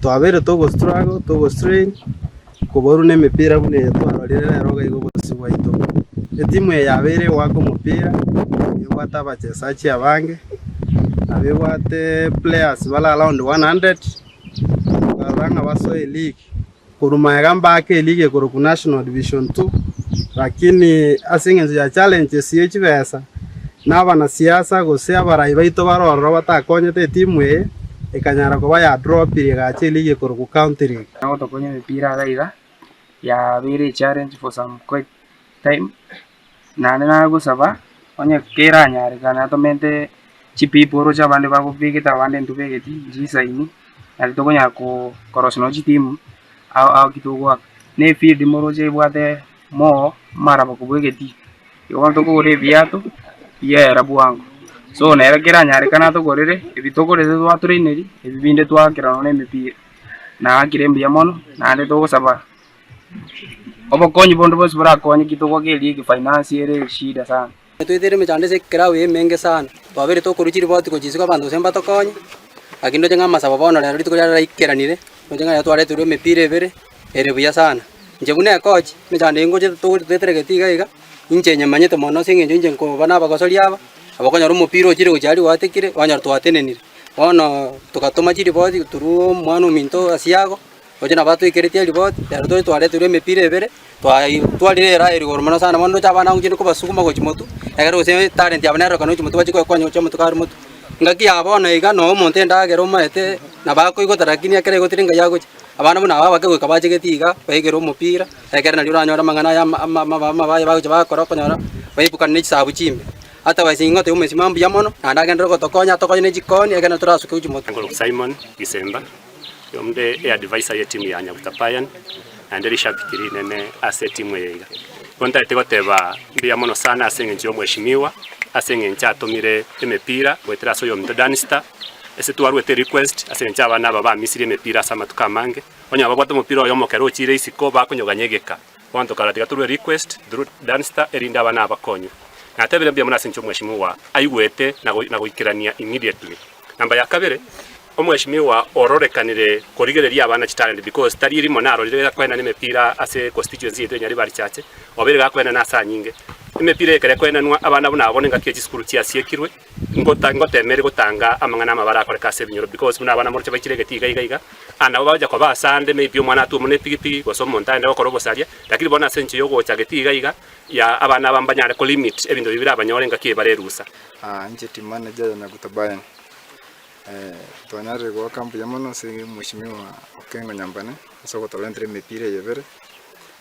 Twabeire togostruggle, togostrain, koborwa nemepira buna eye twarorire rero iga igo obosasi bwaito. Etimu eye yabeire egoaka omopira, ebwate abachesaji abange, nabo ebwate players bare around one hundred, barora ng'a basoe league. Korwa magega mbaake eria egekorokwa National Division Two, lakini ase engencho ya challenges ye chibesa, na abanasiasa gose abarai baito bare ororo batakonyete etimu eye, ekanyara koba ya drop rigache eria egekorokwa County League. Ekero gotokonya emepira iga iga, yabeire echallenge for some quite time, Naende nagosaba, onye keranyareka, natomente chipipu oroche abande bagobegete abande ntobegeti, nchisaini, naki tokonyara koo korosia nonye chitimu ao ao ki togoaka. Na efield moroche ebwate moo amaraba kobua egetii, igo bono tokogora ebiato biaera bwango. So nere keranyareka natogorere ebi togorete twatraineria, ebi binde twaakera nonye emepira, naakire mbuya mono, naende togosaba. Obokonyi bonde bonsi borakonye gituko keria egefinance ere eshida sana. Twaitere emechando ase ekelau eye emenge sana, twabeire tokorwa chiripoti gochia isiko abanto gose mbatokonye, lakini ndoche ng'a amasabo bono rero rituko riarero raikeranire, ndoche ng'a rero twareterwa emepira ebere ere buya sana. Inche buna ekochi, emechando eye ngocha togocha toetere gete iga iga, inche nyemanyete mono ase eng'encho inche nkoba na abagosori aba, nabo okonyora omopira ochire gochia aria gwatekire, kwanyora twatenenire. Bono togatoma chiripoti through omwana ominto Asiago, Gochia nabo atweikereti eriboti, ere tore twareterwe emepira ebere, twayi twarire eraa eye rigoro mono sana, bono ndoche abana abange gochia kobasuguma gochia motwe, egere gose etalent yabo nerorokane gochia motwe bachie koyekonya gochia motwe kare motwe. Engaki ya bono iga noo omonto endagera omaete nabo akoigota lakini ekero aigotire engayo agochia, abana buna aba abake goika bachegeti iga, baigere omopira, ekere nario oranyore amang'ana aya ama ama ama ama baye bagochia bagokora okonyora baibukana ne chisaabo chimbe. Otherwise ing'ote ya omosima mbuya mono, naende agenderere gotokonya atokonye ne chikoni, ekere nabo torasuke gochia motwe. Simon Gisemba. Onde eadviser y'etimu ya Nyabutapayan naende rishabiki rinene ase etimu eye iga. Igo ntareti goteba mbuya mono sana ase engencho y'omweshimiwa ase engencho atomire emepira goetera ase oyominto Dunster. Ase twaruete request ase engencho abana aba bamisirie emepira ase amatuko amange, onye babwate omopira oyomo ekero ochire isiko bakonyoganya egeka. Bounty kara tiga torue request through Dunster erinde abana aba bakonywe. Natebire mbuya mono ase inche omweshimiwa aigwete na goikerania immediately. Number ya kabere, omweshimiwa ororekanire korigereria abana chitalent because tari erimo narorire egakoenana emepira ase constituency yaito ya Nyaribari Church obeire gakoenana ase anyinge. Emepira ekero ekoenanwa abana buna abo nengaki ya chisukuru chiasiekirwe. Ngota ngotemeire gotanga amang'ana amabare akoreka ase ebinyoro, because buna abana moroche baichire egeti iga iga iga, and nabo bagocha koba asande, maybe omwana atuomwe ne epigipigi, gose omonto aende gokora obosaria, lakini bono ase enchera yogocha geti iga iga ya abana aba mbanyare ko limit ebinto bibio birabanyore ngaki ebare erusa. City manager ya Nyaguta Brian, twanyarire goaka mbuya mono ase Mweshimiwa Okengo Nyambane ase ogotorentera emepira eye ebere,